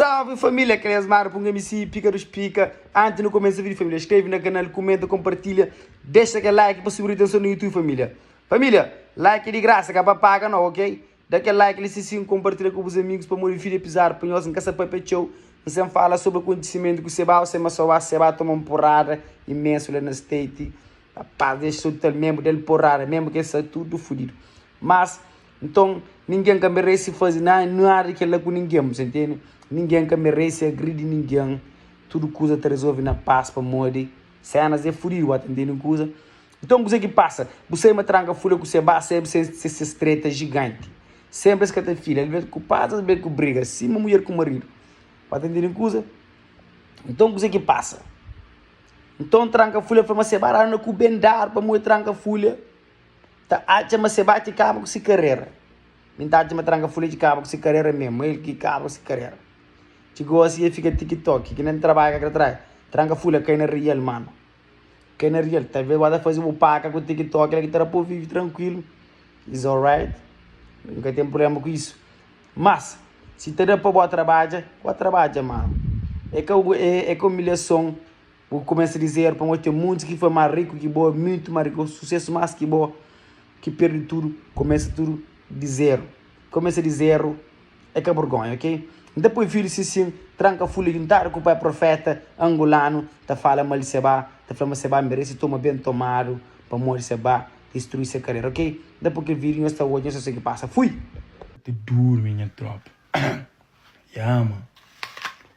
Salve família, aquele é Smara punga MC Pica dos Pica Antes no começa vídeo família, escreve na canal, comenta, compartilha Deixa aquele like pa subir atenção no YouTube família Família, like é de graça, ka pa paga no, ok? Da aquele like li sisim, compartilha ku bus amigos pamodi vídeo é pizado pa nhos, nka sa papia txeu N'sem fala sobre acontecimento ku Sebá o Sema Soá Sebá toma um porrada imenso la na state Rapaz, deixa só tal membo del porrada, membo ke sa tudo fudido Mas. Nton, ningen ka merese faze nada di kel-la ku ningen, bu sta intende? Ningen ka merese agridi ningen. Tudu kuza ta rezolve na pas pamodi Sénas é fudidu, bu sta intende un kuza? Nton, kuzê ki pasa? Bu sai ma tranka fula ku Sebá, sebe se ses treta jiganti. Sénpri es ka ta fila, alvês ku pas, alvês ku briga, sima mudjer ku maridu. Bu sta intende un kuza? Nton, kuzê ki pasa? Nton, tranka fula fla ma Sebá dadu na ku Ben-Dar pamodi el tranka fula. ta atxa ma se bati kaba ku se karera. Mi ta atxa ma tranka fuleji kaba ku se karera mesmu, ma el ki kaba ku se karera. Txi gosi el fika tiki-toki, ki na N trabadja ka ta trai. Tranka fule kai na rial, mano. Kai na rial. Talves bo ta faze bu paka ku tiki-toki la ki ta da pa bu vive trankuilu. Is alright. N ka ten prubléma ku isu. Mas, si ta da pa bo trabadja, bo trabadja, mano. E ka un, e ka un umilhason. Bu kumesa dize el, Pamodi ten muntis ki fla ma riku ki bo, é mutu ma riku, susesu más ki bo, ki perde tudu, kumesa tudu dize-l. Kumesa dize-l é ka burgonha, ok? N ta poi fidju si sin, tranka fule ki N tara ku pai profeta angulanu ta fala mal di Sebá, ta fla ma Sebá merese toma ben tomadu pamodi Sebá distrui se karera, ok? N ta poi kel fidju, nhos ta odja, nhos ta sigi pasa. Fui! N ta durmi nha tropa. Yama!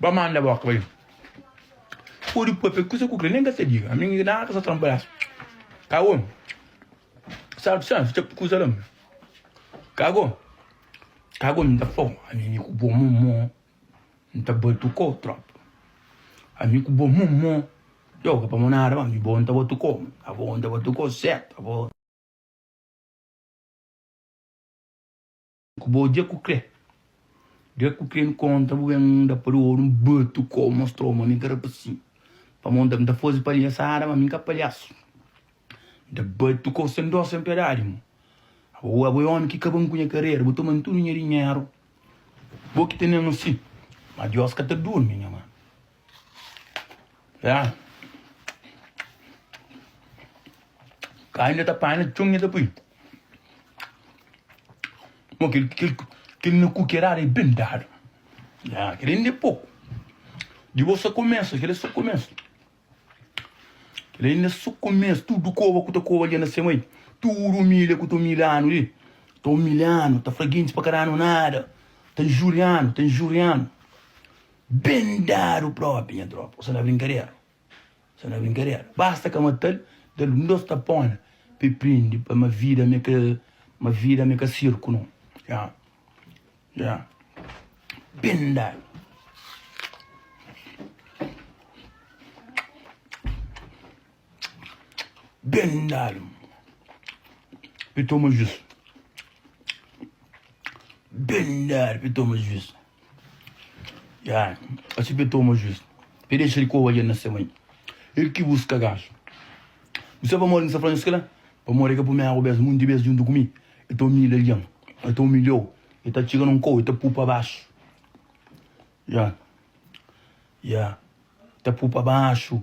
Ba manda boka bai Pode poi pe kusa ku kre nen ka sa diga Ami ngi nada sa tranpa das Ka go Sabe sa sa txapi kusa la Ka go Ka go nta fo Ami mi ku bo momo Nta batu ko trop Ami ku bo momo Yo ka pa mo nada ba mi bo nta batu ko Ka go nta batu ko sert Ka go. Ku bo dja ku kre. Dja ku kre-m konta bu ben da pa du oru-m batu ko-u mostrou ma mi ka rapasin pa mon da-m ta fazi palhasada ma mi ka palhasu mi ta batu ko-u sen do sen piedadi mo abo abo é omi ki kaba-m ku nha karera bu toma-m tudu nha dinheru bo ki tene-m asi ma dios ka ta durmi nha manu. Ya. Kai nha ta panha txon nha ta pui. Mo kel kel kel nha kukerada é ben dadu. Ya, kel ainda é poku. Di bo sa kumesa, kel é so kumesa. Kel ainda é so kumesa, tudu koba ku ta koba li na semai, tudu umilha ku ta umilhanu li, ta umilhanu, ta fla gentis pa ka danu nada, ta injurianu, ta injurianu. Ben dadu propi nha tropa. Osa na brinkadera Osa na brinkadera Basta ka matal Dal un dos tapona Pa e prindi pa ma vida mi ka Ma vida mi ka sirku no Ya Ya Ben dadu Bem dado. Pi toma juiz. Bem dado pi toma juiz. Ya, assim pi toma juiz. Pi deixa de coa na seu mãe. Ele que busca gajo. Você vai morrer nessa franja lá? Para morrer que primeiro vez, muitas vezes junto comigo. Eu tô humilhado, ele eu tô humilhado. Ele tá chegando um coa, ele tá pôr para baixo. Ya. Ya. Tá pôr para baixo.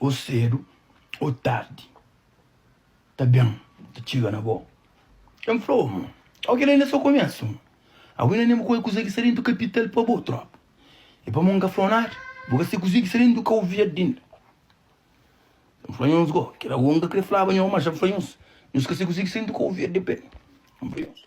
Ô sedu ô tardi ta ben ta txiga na bo Kel N fla-u amor Ó kel-li inda é so komésu amor Agu inda nen bu koi kuze ki sta dentu kapital pa bo Trópa é pamo N ka fla-u nada Bu ka se kuze ki sta dentu kau verdi inda N fla nhos go Kel agu N ka kre flaba nho Má dja N fla nhos Nhos ka se kuze ki sta dentu kau verdi pa el N fla nhos.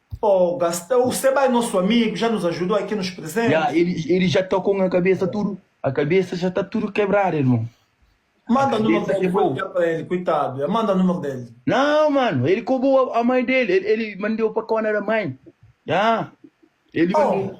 Oh gasta u se bai nosso amigo já nos ajudou aqui nos presente. Ya elis elis já ta com a cabeça tudo a cabeça já tá tudo quebrada irmão manda a cabeça quebrou coitado ya manda número dele não mano ele cobou a mãe dele ele ele mandeu para cona da mãe ya ele mandou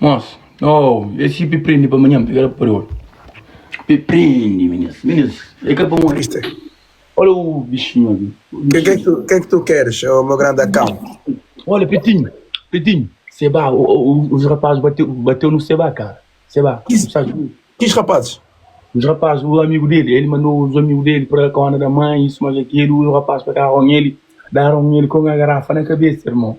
Mos, oh, es si pi prende pa manhan, pega la pa pade ol. Pi prende, minis, minis, e ka pa morre. Mister. Ola u bixinho abi. Ke ke tu, ke ke tu keres, o meu grande acão? Ola, Pitinho, Pitinho, seba, o, o, os rapazes bateu, bateu no seba, cara. Seba, Kis, tu sabes, kis rapazes? Os rapazes, o amigo dele, ele mandou os amigos dele para cona da mãe, isso, mais aquilo, o rapaz para com ele, deram ele com a garrafa na cabeça, irmão.